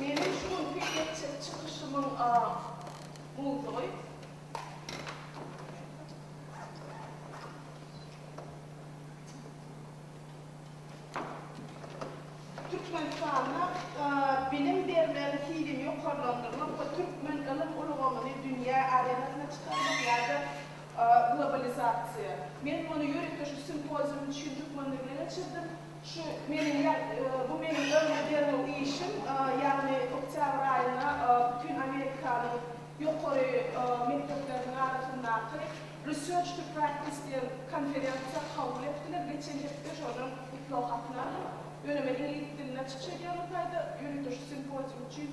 Meniň şu günki etjek çykyşymyň a mowzugy Türkmenistanda a bilim bermegiň hilini ýokarlandyrmak we türkmen ylym ulgamyny dünýä arenasyna çykarmak ýa-da globalizasiýa. Men muny ýörite şu simpozium üçin türkmen dilinde geçirdim. Şu meniň ýa bu meniň örne derňew işim, ýagny oktýabr aýynda bütin Amerikanyň ýokary mekdepleriniň arasyndaky Research to Practice diýen konferensiýa kabul etdiler. Geçen hepde şonuň gutlag hatyny aldym. Ýöne men iňlis dilinde çykyş edýärin taýda, ýöriteleşik simpozium üçin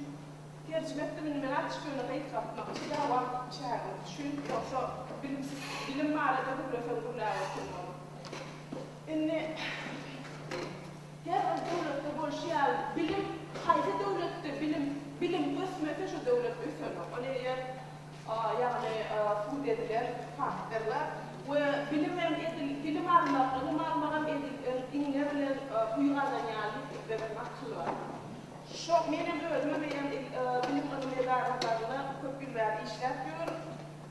terjime etdim. Indi men açyk ýöne gysgaltmakçy ýa wagt çägimiz üçin, ýogsa bilimsiz bilim barada gürleseň gürläp oturmaly. Indi her bir döwletde bolşy ýaly bilim haýsy döwletde bilim bilim ösmese şo döwlet ösenok. Ol eger ýagny sud edilen faktorlar we bilim hem edil bilim almak ylym almagam edil em iňňe bilen uý gazanýan ýigitlerem akyl bar. Şo menem özüm eýýäm il bilim ylym edaralarynda köp ýyllar işläp ýörüm.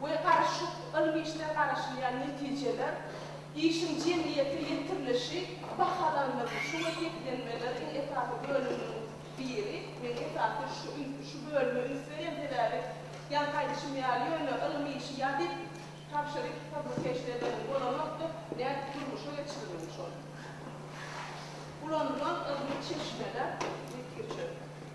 we garyşyk ylmy işler garaşylýan netijeler, işiň jemgyýete ýetirilişi bahalandyrylyp, şu wekiltlenmeleriň esasy bölüminiň biri, men esasan şu ün, şu bölüme üns berýän sebäbi, ýaňky aýdyşym ýaly, ýöne ylmy işi ýazyp tabşyryp publikasiýa edeniň bolanokdyr, nädip durmuşa geçirilen şol? Ulanylan ylmy çeşmeler, wekilçilik.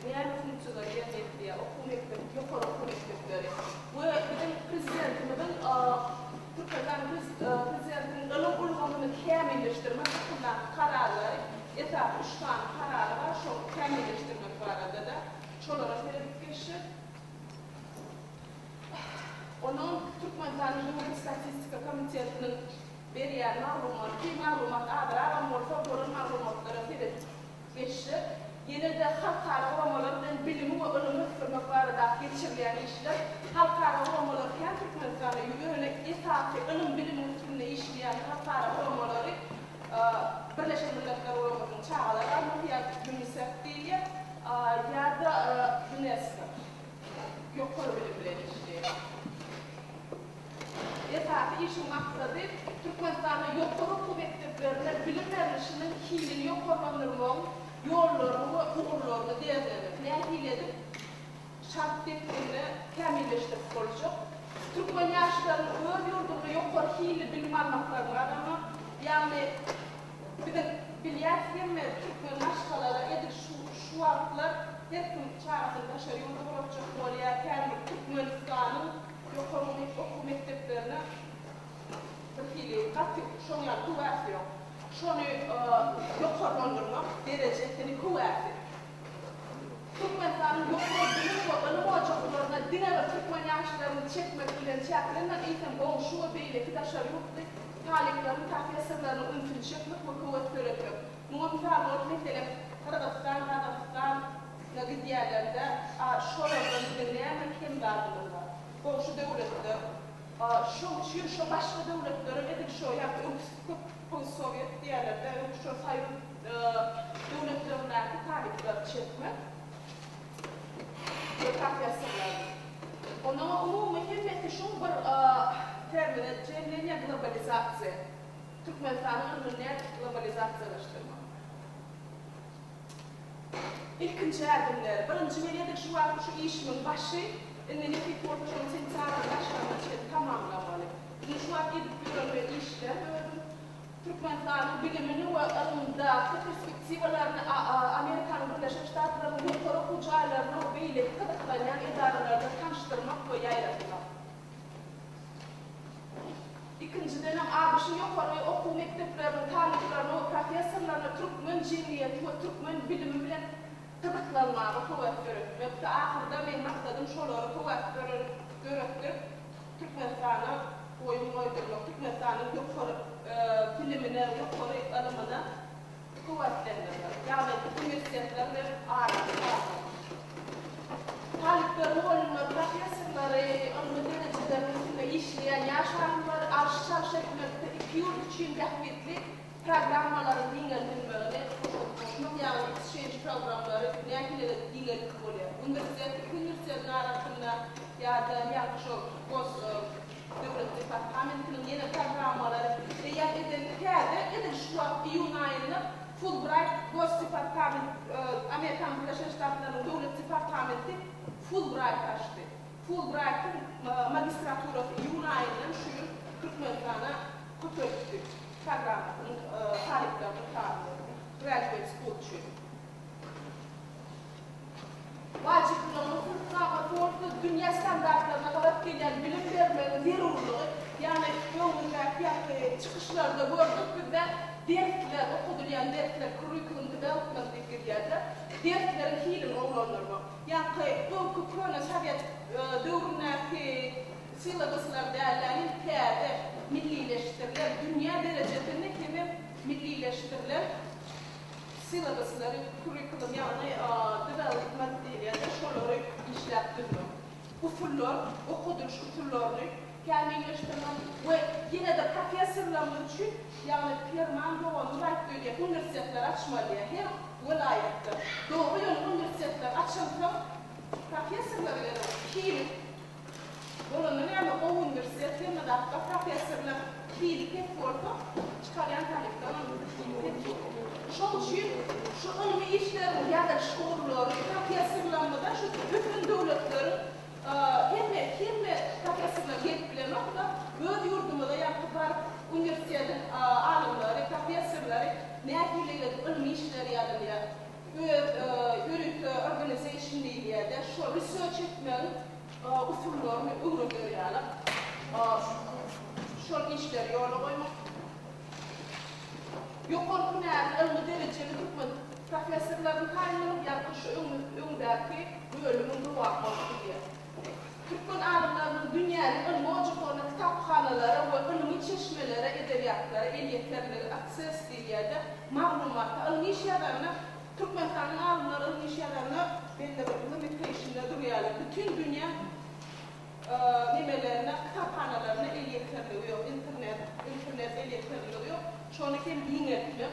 Däli okyjylar ýerleşýär, okuw mekdep, ýokary okuw mekdepleri we biziň Prezidentimiziň Türkmenistan Prezidentiniň ylym ulgamyny kämilleşdirmek hakyndaky kararlary, esasy üç sany karary bar, şol kämilleşdirmek barada-da, şolara seredip geçjek. Onuň Türkmenistanyň Döwlet statistika komitetiniň berýän maglumaty, maglumat azragam bolsa, bolan maglumatlara seredip. Geçjek. Ýene-de halkara guramalar bilen bilimi we ylmy ösdürmek baradaky geçirilýän işler, halkara guramalar kän Türkmenistanda ýöne esasy ylym-bilimiň üstünde işleýän halkara guramalary Birleşen Milletler Guramasynyň Çagalar Gazasy ýa-da Ýunisef diýilýär ýa-da Ýunesko. ýokary bilim bilen işleýär. Esasy işiň maksady Türkmenistanda ýokary okuw mekdeplerinde bilim berlişiniň hilini ýokarlandyrmagyň ýollaryny we ugurlaryny derňemek, nähili edip şart depginini kämilleşdirip boljak, türkmen ýaşlarynyň öz ýurdunda ýokary hilli bilim almaklaryny gazanmak, ýagny, Biziň bilýäs hemme türkmen maşgalala edil şu şu wagtlar her kim çagasyny daşary ýurda ugratjak bolýar känbir türkmenistanyň ýokary okuw mekdeplerine bir hili gaty şoň ýaly höwäs ýok şony ýokarlandyrmak derejesini höwäsi. Türkmenistanyň ýokary bilim we ylym ojaklaryna diňe bir türkmen ýaşlaryny çekmek bilen çäklenmän, eýsem, goňşy we beýleki daşary ýurtly talyplaryň, professorlarynyň ünsüni çekmek we höwes döretmek. Muňa mysal bolup, meselem, Gyrgyzystan, Gazagystan, na gidýärlerinde, a şolardan biziň näme kemdardymyz bar? Goňşy döwletler, a şoň üçin şo başga döwletlerem edil şo ýa öňküsi köp, post-sowet diýerler-dä, öňki şo soýuz, döwletlerindäki talyplary çekmek we professorlary. Onda umumy hemmesi şu bir termine jemlenýär, globalizatsiýa. Türkmenistanyň ylmyny nädip globalizatsiýalaşdyrmak? Ilkinji ädimleri, birinji men edil şu wagt şu işimiň başy, indi Nepes Bolçunyň sentýabryň başlaryna çenli tamamlamaly. Indi şu wagt edip ýören men işlem özüm Türkmenistanyň bilimini we ylymdaky perspektiwalaryny Amerikanyň Birleşen Ştatlarynyň ýokary okuw jaýlaryna we beýleki gyzyklanýan edaralaryna tanyşdyrmak we ýaýratmak. Ikinjidenem, ABŞ-yň ýokary okuw mekdepleriniň talyplaryna we professorlaryna türkmen jemgyýeti we türkmen bilimi bilen gyzyklanmaga höwes döretmekdi. Ahyrda meň maksadym şolara höwes döretdirip, Türkmenistana oýun goýdurmak, Türkmenistanyň ýokary bilimine, ýokary ylymyna kuwwatlandyrmak, ýagny uniwersitetler bilen araly salmak, talyplaryň golunda professorlary, ylmy derejeleriň üstünde işleýän ýaş alymlary alyş-çalyş etmekde iki ýurt üçin bähbitli Programmalaryň giňeldilmegine hoşalt goşmak ýagny isçenç programmlary nähileledi giňeldip bolýar. Uniwersitet iki uniwersitetiň arasynda ýa-da ýaňky şol gos döwlet departamentiniň ýene programmalary eýýäm edildi. Täze edil şu wagt iýun aýynda Fulbrayt gos departament Amerikanyň Birleşen Ştatlarynyň döwlet departamenti Fulbrayt açdy. Fulbraytyň magistraturasy iýun aýyndan şu ýyl Türkmenistana köçeripdi. programmasynyň talyplarynyň sanyny Graduate School üçin wajyplygyny hukuk-abat ýolsuz dünýä standartlaryna gabat gelýän bilim bermegiň zerurlygy, ýagny öňündäki ýaly çykyşlarda gördük, bizde dersler, okadylýan dersler, curriculum development diýip gidýärler, dersleriň hilini gowulandyrmak, ýaňky öňki köne sowet döwründäki, Syladysylar dälä hil täze millileşdirilen, dünýä derejesinde hemem millileşdirilen syladysylary, kurrikulum, ýagny dynalgyt materiýaly şolary işläp düzmek. Usullar, okadylyş usullaryny kämilleşdirmek we ýene-de professorlarymyz üçin, ýagny Perman doganyňyz aýtdy öýdýän uniwersitetleri açmaly diýýär her welaýatda. Dogry ýöne uniwersitetler açylsa professorlar ýene hil Bolanda näme gowy uniwersitet hemme zatda professorlar hili pes bolsa çykarýan talyplar hem hili pes bolýar. Şoň üçin şu ylmy işleriň ýazylyş ugurlary professorlarymyza şu ösen döwletleriň hemme hemme professorlar gelip bilenokda öz ýurdumyza ýaňky baryp uniwersitetiň alymlary professorlary nähili ylmy işler ýazylýar öz ýörite organization diýilýärdi, şo research etmegiň usullaryny öwreder ýaly şol işleri ýola goýmak, ýokary hünärli ylmy derejeli türkmen professorlaryny taýynlamak, ýagny şu öňdäki bölümiň dowamy bolup gidýär. Türkmen alymlarynyň dünýäniň ylmy ojaklaryna, kitaphanalara we ylmy çeşmelere edebiýatlara elýeterligi Access diýil ýerde maglumata, ylmy iş ýazanyna Türkmenistanyň alymlary ylmy iş ýazanyna bellemekde we mepeýşinde durýarlar. Bütin dünýä nemelerine, kitaphanalaryna elýeterligi ýok, internet, internet elýeterligi ýok. Şony hem giňeltmek.